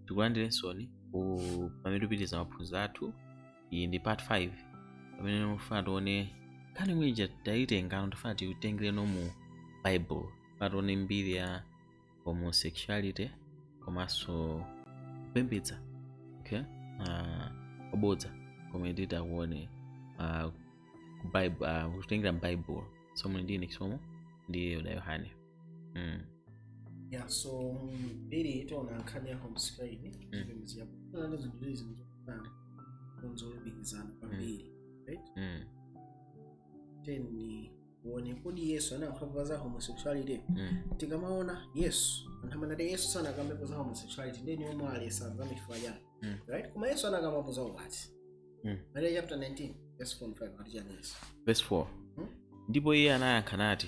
tikulandireninso ku- pamene tupitiriza maphunziro athu iyi ndi part 5 pamene tifuna tione nkhani imene ija tayitengano tifuna tiitengereno mu bible tifuna tione mbiri ya homosexuality komanso kupembedza okay uh, obodza komwe titakuone uh, Bible, uh, kutengera m'baibulo so mwene ndine chisomo ndi yoda yohane Mm. ya so mbiri tiona nkhani ya homosexuality chipembedzi yako ana zinthu izi zinthu zofanana zolumikizana kwambiri right Mm. then tione kodi yesu anakambapo za homosexuality Mm. tikamaona yesu anthu amanena kuti yesu sanakambepo za homosexuality ndiye inu mukuletsa zifukwa zake Mm. right koma yesu anakambapo za ukwati Mm. mateyu chapter 19 verse 4 5 ati chani yesu Verse 4. Mm. ndipo iye anayankha nati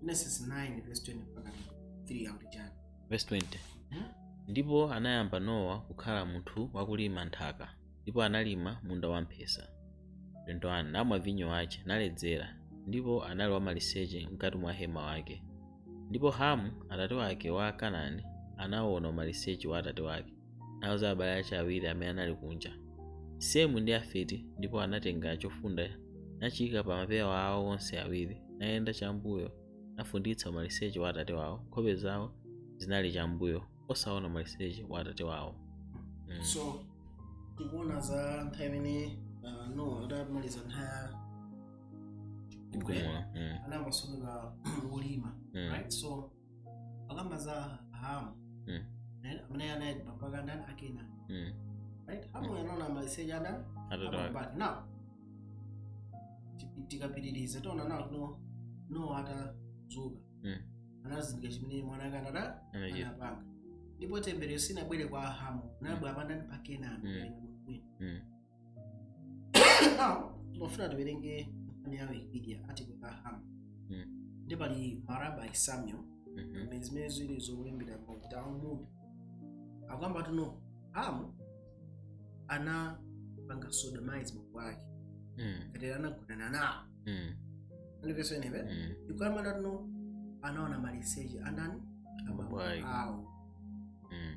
Genesis 9 verse 20 mpaka 3 akuti chani? verse 20 Mhm. ndipo anayamba nowa kukhala munthu wakulima nthaka ndipo analima munda wamphesa 21 namwa vinyo wace naledzera ndipo anali wamaliseche mkati mwa hema wake ndipo hamu atate wake wa kanani anaona umaliseche wa atate wake nauza abale ace awiri amene anali kunja semu ndi yafeti ndipo anatenga chofunda nachiika pa mapewa awo onse awiri nayenda chambuyo nafunditsa umaliseche wa atate wawo nkhope zawo zinali chambuyo osaona umaliseche wa atate wawo mm. so tikuona za nthawi imene uh, nowa adamaliza nthawi ya chigumula, mm, anayamba ulimi mm. right so akamba za hamu Mm. naye- amene anali bambo ake a ndani a kenani Mm. right hamu anaona maliseche adani Atate ake. abambo ake now ti- tikapitiriza tiona nowa nowa atadzuka Mm. anazindikira chimene mwana wake anada Anachita. anapanga ndipo temberero silinabwere kwa hamu linabwera pa ndani pa kenani Mm. Mm. Now, ndofuna tiwerenge nkhani ya wikipedia article ya ham Mm. ndi pali ma rabbi samuel Mhm. ndi zimene zili zolembedwa mu talmud akukamba kuti no hamu anapanga sodomize bambo wake Mm. kapena anagonana nawo Mm. andipesa eneve Mm. ikukamba kuti no anaona maliseche andani Bambo wake. awo Mm.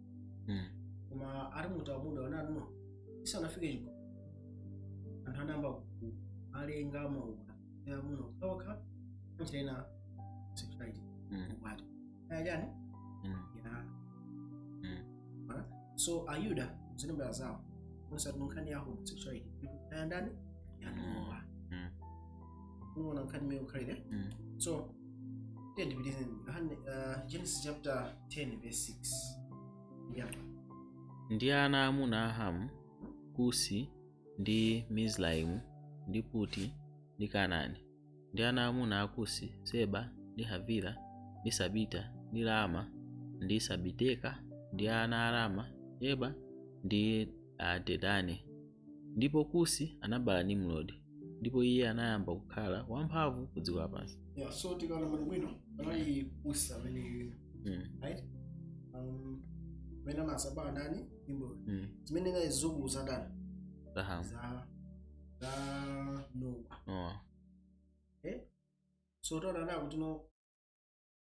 mm. koma ati muta muda wananu isanafike chiko anthu anayamba ku- alenga maukwati ya amuna okhaokha kuchita ina sexuality mm. ukwati ayajani mm. ya Mara? so ayuda zine mbala zawo onse atunkhani ya homosexuality ayandani yanowa unaona nkhani imene ikukhalira Mm. so tiyeni tipitirize Yohane, uh, genesis chapter 10 verse 6 apa ndi ana amuna a hamu kusi ndi mizraimu ndi puti ndi kanani ndi ana amuna a kusi seba ndi havila ndi sabita ndi rama ndi sabiteka ndi ana a rama yeba ndi uh, dedani ndipo kusi anabala nimrodi ndipo iye anayamba kukhala wamphamvu ku dziko lapansi yeah so tikaona bwino panali kusi amene mm. right um amene anazabala ndani nimrodi mm. zimene ndi zizukulu za ndani za hamu za za nowa oh. so tiona kuti no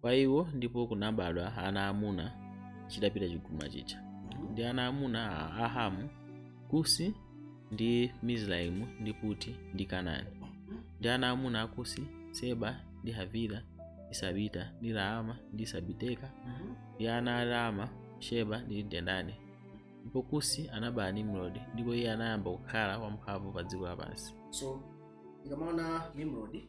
kwa iwo ndipo kunabadwa ana amuna chitapita chigumula chija ndi ana amuna a ahamu kusi ndi mizraimu ndi puti ndi kanani ndi ana amuna a kusi seba ndi havila ndi sabita ndi raama ndi sabiteka ndi ana a raama sheba ndi dedani ndipo kusi anabala nimrodi ndipo iye anayamba kukhala wamphamvu pa dziko lapansi so tikamaona nimrodi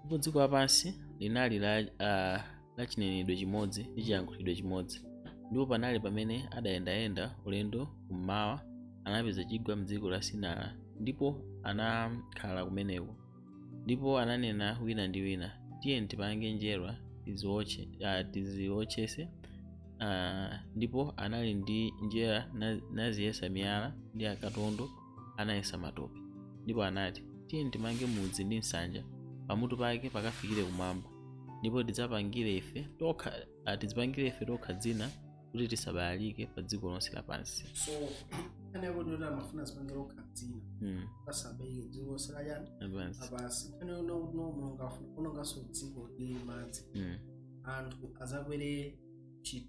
ndipo dziko lapansi linali la, uh, la chinenedwe chimodzi ndi chiyankhulidwe chimodzi ndipo panali pamene adayendayenda ulendo kummawa anapeza chigwa mdziko la sinara ndipo anakhala kumeneko ndipo ananena wina ndi wina tiyeni tipange njerwa tiziwotche uh, tiziwotchese uh, ndipo anali ndi njera na- naziyesa miyala ndi akatondo anayesa matope ndipo anati tiyeni timange mudzi ndi nsanja pamutu pake pakafikire kumwamba ndipo tidzapangire ife tokha ah, tidzipangire ife tokha dzina kuti tisabalalike pa dziko lonse lapansi so nkhani yakuti kuti amafuna azipangire okha dzina mm. asabalalike dziko lonse lachani lapansi lapansi nkhani yonena kuti no mulungu afuna kuononganso dziko ndi madzi mm. anthu azakwere chi-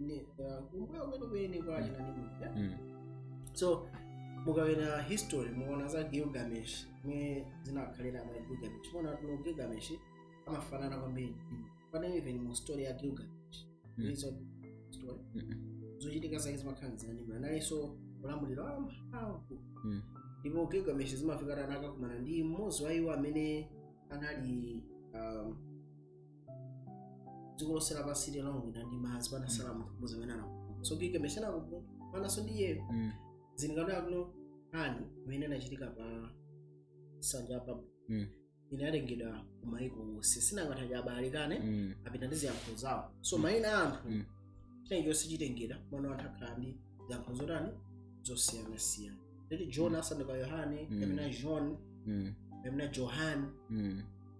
ne- uh, kumbuyo kwenikweni kwa achina Nimrod, eh? Mm. so mukawerenga history muona za gilgamesh mmene zinakhalira ma gilgamesh muona kuti no gilgamesh amafanana kwambiri ndi Nimrod. pena even mu story ya gilgamesh Mm. izo story Mm. zochitika zake zimakhala za Nimrod analinso ulamuliro wamphamvu Mm. ndipo gilgamesh zimafika tana akakumana ndi mmodzi wa iwo amene anali um, dziko lonse lapansi linawonongeka ndi madzi panasala munthu mmodzi amene anapulumuka so gilgamesh anakumananso ndi iyeyo Mm. tingaone kuti no nkhani imene inachitika pa nsanja ya babulo Mm. inalengedwa ku maiko onse si nanga anthu aja abalalikana Mm. apita ndi ziyankhulo zawo so Mm. mayina a anthu Mm. china chonse chitengera mwana wanthu akhala ndi ziyankhulo zotani zosiyanasiyana right john asanduka yohane Mm. kapena john Mm. kapena johan Mm.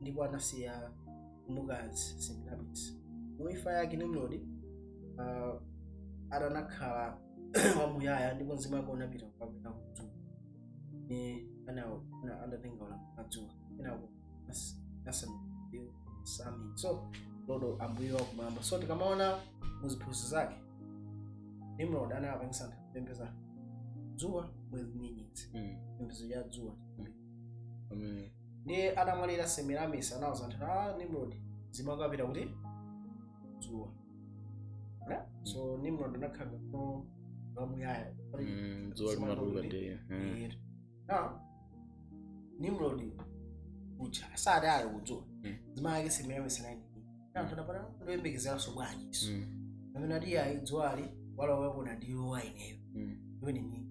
ndipo anasiya mkazi Semiramis. Mu imfa yake Nimrodi ah, ati anakhala wamuyaya ndipo mzimu wake unapita kupita kudzuwa ni ana ana anatenga wala kudzuwa ina nasa sami so lord ambuye wa kumwamba so tikamaona muziphunzitso zake Nimrod anapangisa anthu kupembeza dzuwa mwezi nyenyezi Mm. pembezo ya dzuwa Amen. ndiye atamwalira semiramis anauza anthu nimrod mzimu wake wapita kuti dzuwa Eh? so nimrod anakhala no wamuyaya Mm, dzuwa limatuluka ndi mm. Iyero. na nimrod uja asati ali kudzuwa Mm. mzimu wake semiramis anali anthu adapata ndoyembekezeranso bwanji iso Mm, amene ati ayi dzuwali wala wagona ndi ineyo mm. imene ni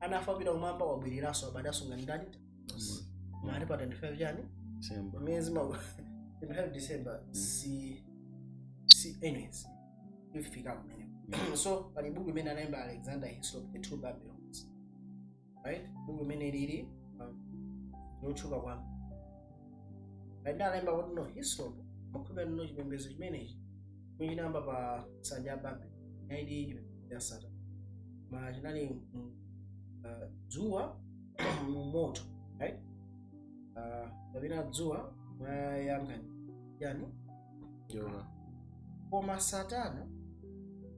anafa pita kumwamba wabwereranso abadwanso ngati ndani mali pa 25 chani December. miyezi ma 25 december si si anyways tifika kumeneko so pali buku imene analemba alexander hislop the two babylons right buku imene lili um, lotchuka kwambiri right ndiye analemba kuti no hislop amakhulupirira no chipembedzo chimenechi chinayamba pa nsanja ya babeli chinalidi chipembedzo cha satana ma chinali mu, uh, dzuwa mu moto right? uh, kapena dzuwa mwayangani chani njoka. koma satana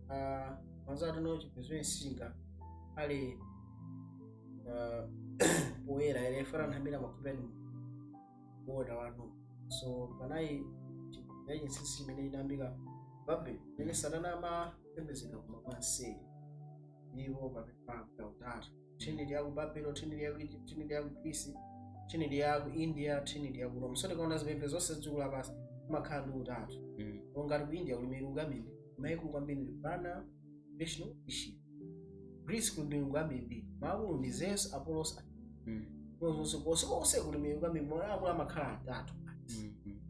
uh, mazati no chipembedzo chimene sichingakhale uh, poyera ere chifukwa anthu ambiri makhupirani kuona wanu so panali chipembedzo chachinsinsi imene inayambika babel imene satana amapembedzedwa koma kwanseri ndipo pamene pamka utatu trinity yaku babulo trinity yaku egypt trinity yaku greece trinity yaku india trinity yaku rome so tikaona zipembedzo zonse dziko lapansi kumakhala ndi utatu Mm. ngati ku india kuli milungu ambiri maakulu kwambiri ndi brahma Vishnu ndi Shiva. Greece kuli milungu yambirimbiri. Maakulu ndi Zeus, Apollos, Athena. Mm. Konse konse konse kuli milungu yambirimbiri. Maakulu amakhala atatu. Mm. Mm.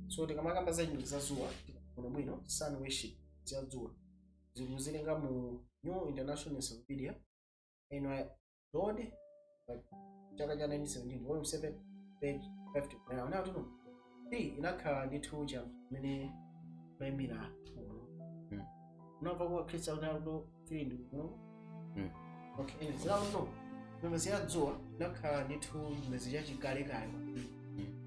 So tikamakamba za chani za dzuwa tikaona bwino sun worship za dzuwa. Tikuwerenga mu New International Encyclopedia NY Lord, but chaka cha 1917 volume 7 page 50 kunena kuti atuno ndi inakhala ndithu cha kumene kumayimira uno Mm. unamva kwa khristu akuti akuno tili ndi uno Mm. okay anyway, zina uno chipembedzo cha dzuwa inakhala ndithu chipembedzo cha chikalekale kwambiri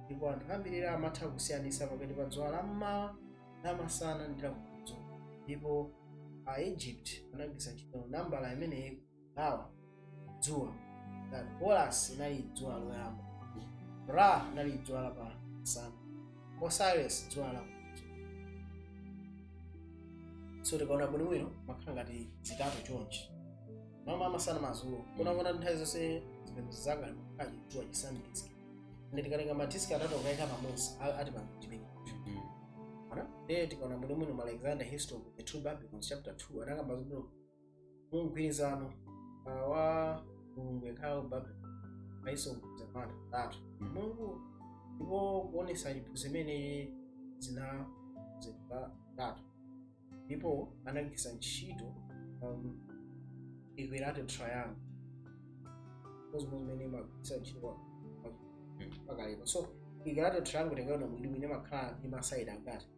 ndipo anthu ambiri lero amatha kusiyanitsa pakati pa dzuwa la mmawa la masana ndi la madzulo ndipo a egypt anagwiritsa ntchito nambala imeneyi Now, dzuwa. That Horus inali dzuwa loyamba. Ra inali dzuwa la pa masana. Osiris dzuwa la madzulo. So tikaona bwino bwino makhala ngati zitatu chonchi. Mmawa masana madzulo. Kunena kuti nthawi zonse zimene zanga kaji dzuwa chisandikizika. Ndi tikalenga madiski atatu kuika pamodzi a- ati pa chimene. Ana? Eh tikaona bwino bwino ma Alexander Hislop of the Two Babylons chapter 2 anakamba kuti mu mgwirizano ah, wa mulungu yekhayo ku babulo paiso mgwirizano wa anthu atatu Mm. mulungu ndipo kuonesa chiphunzitso chimene zinakonzedwa utatu ndipo anagwiritsa ntchito um, equilateral triangle zomwe zimene magwiritsa ntchito kwa- kwa- Mm. pakalero so equilateral triangle tikaona bwino bwino makhala ndi masaidi angati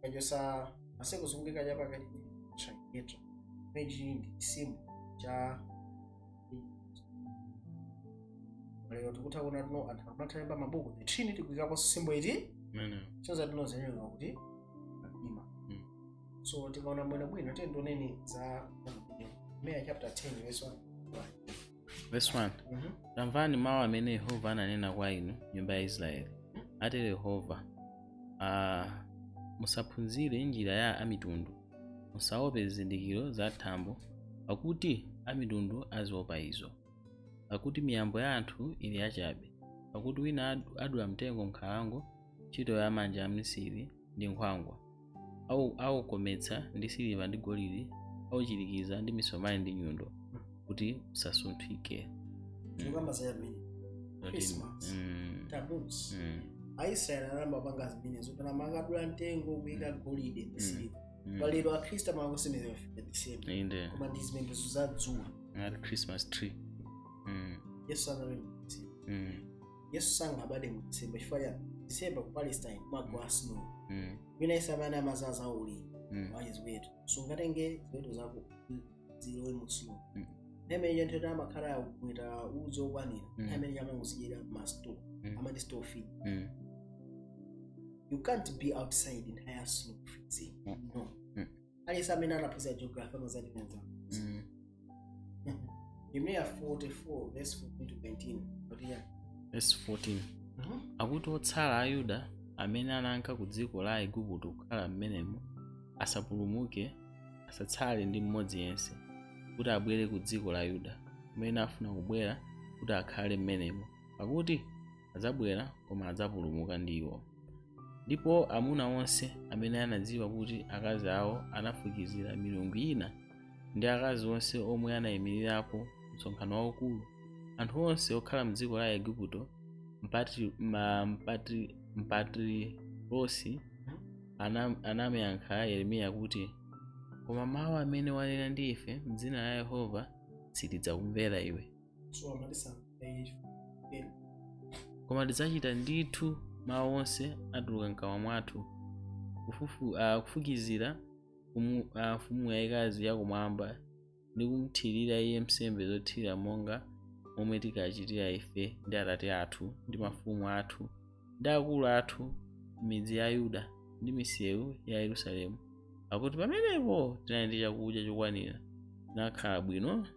kachosa masekozo zozungulira chapakati triquetra mechi ndi chisimbo cha lero tikutha kuona tsono anthu amathalemba mabuku the trinity kuikapo simbo iyi Amen. chonza tinozenyewa kuti mdima Mm. so tikaona bwinobwino tiyeni tione za Yeremiya. Yeremiya chapter 10 verse 1 Verse 1. Mhm. tamvani mawu amene yehova ananena kwa inu nyumba ya aisraeli atero yehova ah, musaphunzire njira ya amitundu musaope zizindikiro za thambo pakuti amitundu aziopa izo pakuti miyambo ya anthu ili yachabe pakuti wina ad- adula mtengo m'nkhalango ntchito ya manja a mmisiri ndi nkhwangwa Au- aukometsa ndi siliva ndi golide auchirikiza ndi misomali ndi nyundo kuti usasunthike tikukamba za yamene Zoti- Christmas. mm, tamusi mm, aisraeli anayamba kupanga zimenezo kuti amakadula mtengo kuyika golide ndi siliva mm. palero akhristu amapanga the same inde koma ndi zipembedzo za dzuwa ngati christmas tree mm, yesu sanapembedze mm, yesu sangabade mu december chifukwa mu december ku palestine kumagwa snow Mm. wina isanayambe amadzaza uli Mm. wache ziweto sungatenge ziweto zako zilowe mu snow Mm. imene iyo nthawi amakhala akumweta udzi okwanira Mm. imene iyo amangozidyera ma store Mm. amati store feed Mm. you can't be outside in higher snow freezing Mm. no aliyense amene anaphunzira geography amazatimenza Mm. yeremiya 44 verse 14 to 19 kuti ya Verse 14 Mhm. akuti otsala a yuda amene ananka ku dziko la aigupto kukhala m'menemo asapulumuke asatsale ndi mmodzi yense kuti abwere ku dziko la yuda kumene afuna kubwera kuti akhale m'menemo pakuti adzabwera koma adzapulumuka ndi iwo ndipo amuna onse amene anadziwa kuti akazi awo anafukizira milungu ina ndi akazi onse omwe anayimirirapo msonkhano waukulu anthu onse okhala mdziko la igupto mpatri, ma, mpatri, mpatrirosi anam- anamuyankha yeremiya kuti koma mawu amene wanena ndi ife mdzina la yehova sitidzakumvera iwe koma tidzachita ndithu mawu onse atuluka mkamwa mwathu kufufu- ah, kufukizira kumu- ah, mfumu yayikazi yakumwamba ndi kumthirira iye nsembe zothirira monga momwe tikachitira ife ndi atate athu ndi mafumu athu ndi akulu athu m'midzi ya yuda ndi misewu ya yerusalemu pakuti pamenepo tinali ndi chakudya chokwanira tinakhala bwino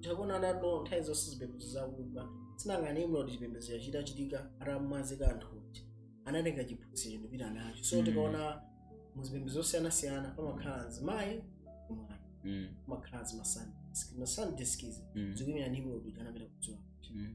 tikuona anato nthawi zonse zipembedzo zakugwa sinanga nimrodi chipembedzo yachita chitika atamwazika anthu aja anatenga chiphunzitso nkupita nacho so Mm. tikaona muzipembedzo zosiyanasiyana pamakhala mzimayi mwana Mm, pamakhala zima sun disc ma sun discs mm, zikuimira nimrodi kuti anapita kudzuwa mm.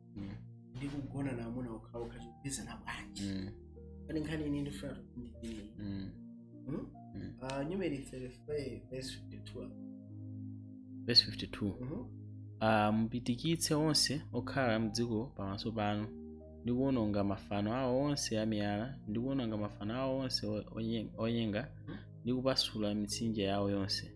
mm. ndi kugona na amuna okhaokha chikupezana bwanji mm. kani nkhani ine ndifuna tokundikire mm. hmm? mm. uh, numeri 35 verse 52 verse 52 mm -hmm. uh, ah, mupitikitse onse okhala mdziko pamaso panu ndi kuwononga mafano awo onse amiyala ndi kuwononga mafano awo onse onyenga ndi kupasula mitsinje yawo yonse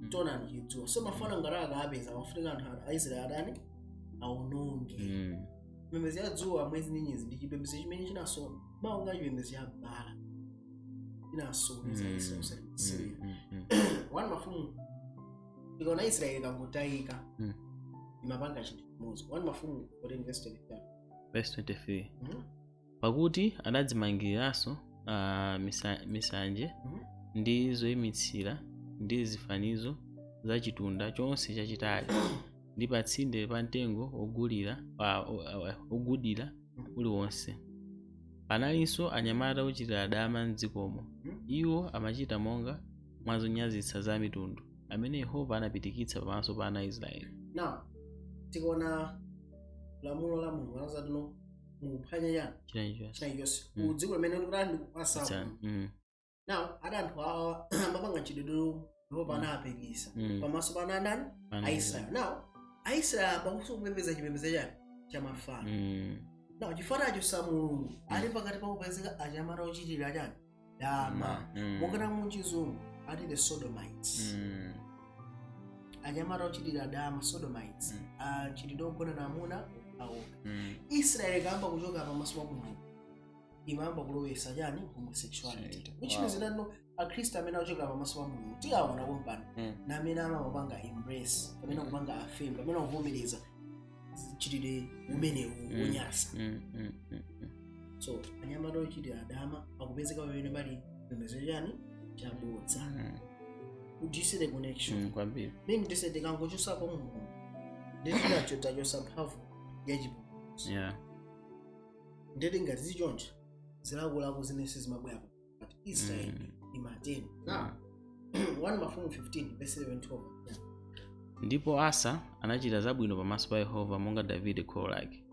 Mm. taonani chidzuwa so mafano ngati akapeza amafunika anthu a- aisraeli atani aononge Mm. chipembedzo cha dzuwa mwezi nyenyezi ndi chipembedzo chimene chinaso- monga chipembedzo cha bala chinasokoneza Mm. israeli Mm. Mm. Mm. wani mafumu tikaona israeli ikangotayika Mm. imapanga chinthu chimodzi wani mafumu 14 Verse 23. Mhm. pakuti adadzimangiriranso ah, misa- misanje ndi zoyimitsira ndi zifanizo za chitunda chonse chachitali ndi pa tsinde pa mtengo wogulira ah, o- ah, wogudira uliwonse panalinso anyamata ochitira dama m'dzikomo iwo amachita monga mwa zonyazitsa za mitundu amene yehova anapitikitsa pamaso pa ana a israeli now tikaona lamulo la mulungu anazatino mukuphwanya chani china chilichonse china chilichonse Mm. ku dziko limene kuti ali ndikukupatsako Cha- mm, now a- anthu awa amapanga mchitidwe Yehova ana Mm. apirikitsa mm, pamaso pa ndani pa aisraeli now aisraeli ayambanso kupembedza chipembedzo chani cha mafano Mm, now chifukwa anachotsa mulungu ali pakati pa kupezeka anyamata ochitira chani dama Mm. monga muchizungu ati the sodomites Mm. anyamata ochitira dama sodomites Mm. amchitidwe ogonana amuna awo Mm. israeli ikayamba kuchoka pamaso pa mulungu imayamba kulowesa chani homosexuality Shit. which Wow. means that now akhristu amene achoka pamaso pa mulungu tiawona kumpani Mm. na amene amapanga embrace amene akupanga affirm amene akuvomereza mchitidwe umenewu mm. wonyasa mm, mm, mm, mm. so anyamata ochitira dama akupezeka pamene pali chipembedzo chani chabodza mm. you see the connection mm, kwambiri minute ife tikangochosapo mulungu ndeti tacho- tachosa mphamvu yachipulumutso yeah. ndeti ngati zili choncho zilakolako zimenezi zimabwera but israel Mm. ni mateni now 1 mafumu 15 verse 11 12 yeah. ndipo asa anachita zabwino pamaso pa yehova monga davide kholo lake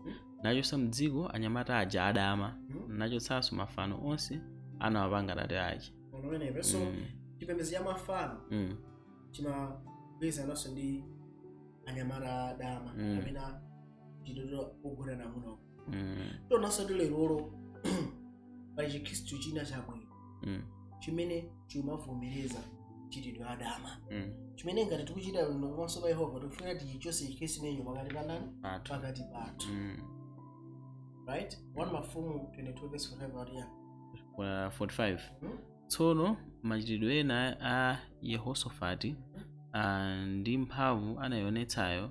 nachotsa mdziko anyamata aja adama Mhm. nachotsanso mafano onse anawapanga tate ache so Mm, chipembedzo cha mafano mm, chimagwirizananso ndi anyamata adama Mm. amene mchitidwe ogonana amuna mm, tiwonanso kuti lerolo pali chikhristu china chabwino mm, chimene chimavomereza mchitidwe wadama mm. chimene ngati tikuchita bwino pamaso pa yehova tikufuna tichichose chikhristu chimenecho pakati pa ndani Pathu. pakati pathu Mm. right 1 mafumu 22 verse 45 atiya Kwa 45 Hmm? tsono machitidwe ena a yehosofati ah, ndi mphamvu anayionetsayo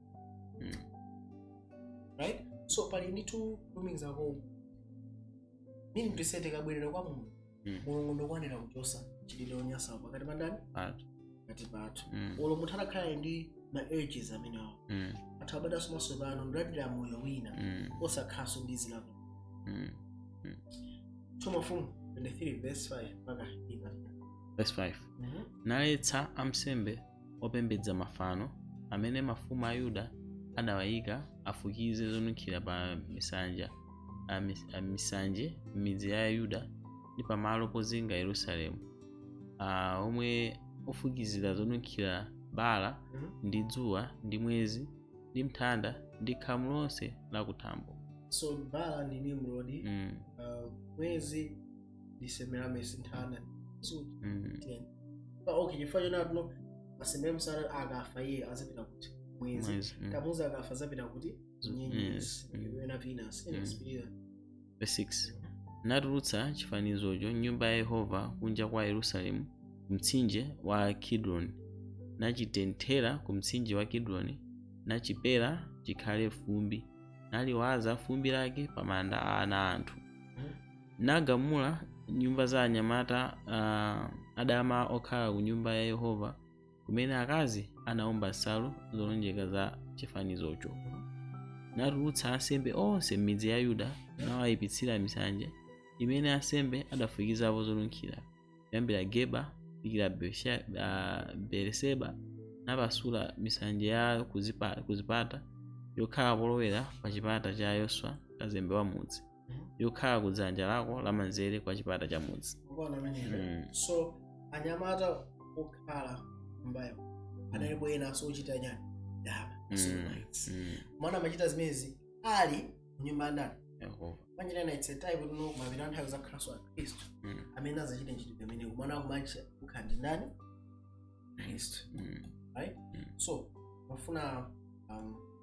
Mm. right so pali ndithu kulumikizako minute ife tikabwerera kwa mulungu Mm. mulungu ndokwanira kuchosa mchitidwe onyasa pakati pa ndani Pathu. pakati pathu Mm. olo munthu atakhala ndi ma urges amenewo Mm. atha kubadwanso mwatsopano ndikulandira moyo wina Mm. osakhalanso ndi zilako Mm. 2 mafumu 23 verse 5 mpaka 8 Verse 5. Mhm. naletsa ansembe opembedza mafano amene mafumu a Yuda adawayika afukize zonunkhira pa misanja a mis- a misanje m'midzi ya Yuda ndi pamalo pozinga Yerusalemu ah, omwe ofukizira zonunkhira baala ndi dzuwa ndi mwezi ndi nthanda ndi khamu lonse lakuthambo so baala ndi nimrodi mm. uh, mwezi ndi Semiramis nthano so Mm. tiyeni pa okay chifukwa choona kuti Semiramis akafa iye azapita kuti mwezi Mwezi, mm. Tamuzi akafa azapita kuti nyenyezi Yes, mm. kapena venus Mm. nsbira Verse 6 natulutsa chifanizocho m'nyumba ya yehova kunja kwa yerusalemu kumtsinje wa kidroni nachitenthera ku mtsinje wa kidroni nachipera chikhale fumbi naliwaza fumbi lake pa manda a ana a anthu nagamula nyumba za anyamata uh, adama okhala ku nyumba ya yehova kumene akazi anaomba nsalu zolonjeka za chifanizocho natulutsa ansembe onse m'midzi ya yuda nawayipitsira misanje imene ansembe adafukizapo zonunkhira kuyambira geba kufikira Berse- ah, beereseba napasula misanje ya kuzipa- kuzipata yokhala polowera pa chipata cha yoswa kazembe wa mudzi yokhala ku dzanja lako lamanzere kwa chipata cha mudzi Mukuona ameneyo? Mm. so anyamata okhala nyumbayo analipo ena azochita chani dama Mm. somaitsi Mm. mwana amachita zimenezi ali nyumba ya ndani Yehova. manje nena it's a time of mapeto a nthawi zakhalanso a khristu Mm. amene azachite ntchito pamene mwana akumacha kukhala ndi ndani khristu Mm. right Mm. so mafuna um,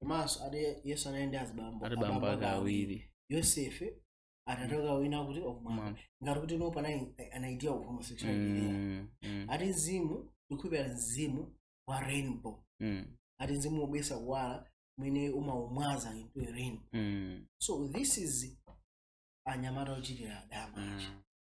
komanso ati yesu anali ndi azibambo ati bambo ake awiri yosefe atatoka wina kuti okumwamba Mwana. ngati kuti nopo an idea of homosexuality Mm, mm, ati mzimu ndikukhulupirira mzimu wa rainbow mm, ati mzimu wobweretsa kuwala umene umaumwaza into a rainbow mm, so this is anyamata ochita dama mm.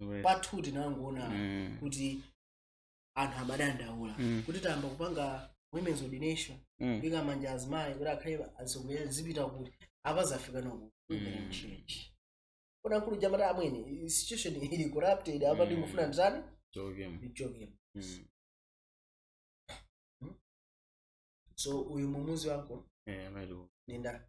Iwe. pathu tinangoona Mm. kuti anthu amadandaula Mm. kuti tayamba kupanga women's ordination Mm. kuika manja azimayi kuti akhale atsogoleri zipita kuti apa zafika mu Mm. church kuna mkulu ujayu amati amwene situation ili corrupted apa Mm. ndikufuna nditani Joke. ndichoke Mm. so uyu mumuzi wako Eh, amene. nenda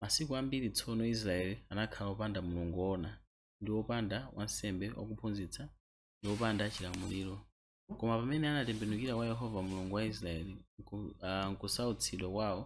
Masiku ambiri tsono Israele anakhala wopanda Mulungu woona, ndi wopanda wansembe wakuphunzitsa, ndi wopanda chilamuliro. Koma pamene anatembenukira kwa Yehova Mulungu wa Israele m'kusautsidwa kwao,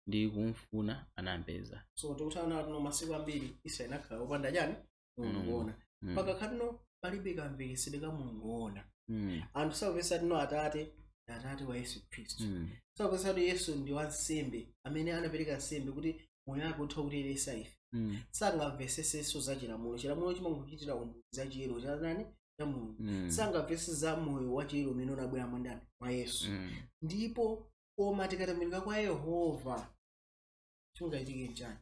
ndi kumfuna, anampeza. So tikutha kuona kuti masiku ambiri Israele anakhala wopanda chiyani? mulungu Mulungu. woona Mm. mpaka pano palibe kamvekesedwe ka mulungu woona Mm. anthu sakumvetsa kuti atate ndi atate wa yesu khristu Mm. sakumvetsa kuti yesu ndi wansembe amene anapereka nsembe kuti moyo wake utha kutiyeretsa ife Mm. sangamvetsetsenso za chilamulo chilamulo chimangochitira umboni za chiyero cha ndani cha mulungu Mm. sangamvese za moyo wa chiyero umene unabwera mwa ndani mwa yesu Mm. ndipo koma tikatembenuka kwa yehova chingachitike nchani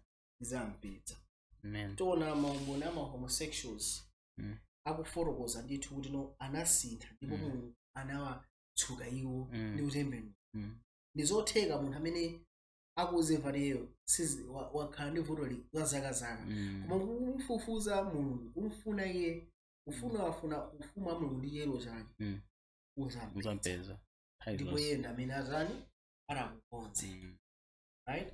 anampeza Amen. tiona maumboni ama homosexuals Mm. akufotokoza ndithu kuti no anasintha ndipo Mm. mulungu anawatsuka iwo Mm. ndi kutembenuka Mm. ndi zotheka munthu amene akuzimva teyo sizi- wa- wakhala ndi vuto li- la zaka zaka Mm. koma kumfufuza mulungu kumfuna iye kufunafuna ufumu wa mulungu ndi chiyero chake Mm. uzambe Uzampeza. Nthawi ndipo zonse. iye ndi amene atani adzakukonze Mm. right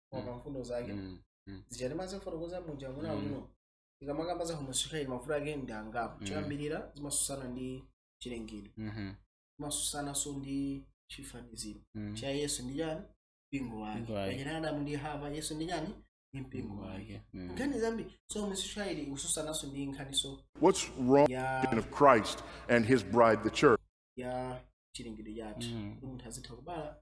koma pa mfundo zake Mm, mm. zija timazifotokoza muja mwina Mm. kuno tikamakamba za homosexuality mavuto ake ndi angapo Mm. choyambirira zimatsutsana ndi chilengedwe Mhm, zimatsutsananso ndi chifaniziro mm. cha yesu ndi chani mpingo wake Mpingo wake. pachina adamu ndi hava yesu ndi chani ndi mpingo wake Mm. nkhani zambi so homosexuality ikutsutsananso ndi nkhaniso What's wrong ya of Christ and his bride, the church? ya chilengedwe chathu Mm. kuti munthu azitha kubala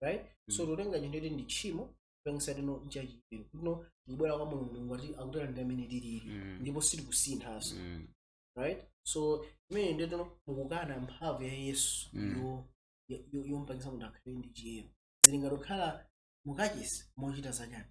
right so Mm. tikutenga chinthu choti ndi tchimo kupangitsa kuti no nchachiyero kuti no tikubwera kwa mulungu mulungu ati akutera ndi amene tilili Mm. ndipo sitikusinthanso Mm. right so imene ndi kuti no mukukana mphamvu ya yesu Mm. yo- yo- yo- yompangitsa munthu akhale ndi chiyero zili ngati kukhala mukachisi mukuchita zachani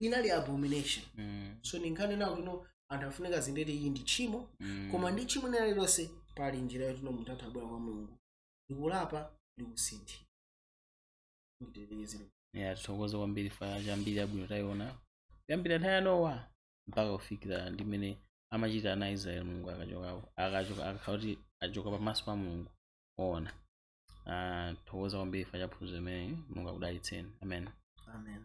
inali abomination Mm. so ndinkanena kuti no anthu afunika azindikire kuti iyi ndi tchimo Mm. koma ndi tchimo lina lililonse pali njira yoti no munthu atha kubwera kwa mulungu ndikulapa ndikusinthira nditetekezere Yeah, tithokoze kwambiri chifukwa cha mbiri yabwino tayiona kuyambira nthawi ya nowa mpaka kufikira ndi mmene amachita ana israeli mulungu akachokawo akachoka akakhala kuti achoka pamaso pa mulungu oona Ah, tithokoza kwambiri chifukwa cha phunziro limeneli mulungu akudalitseni amen amen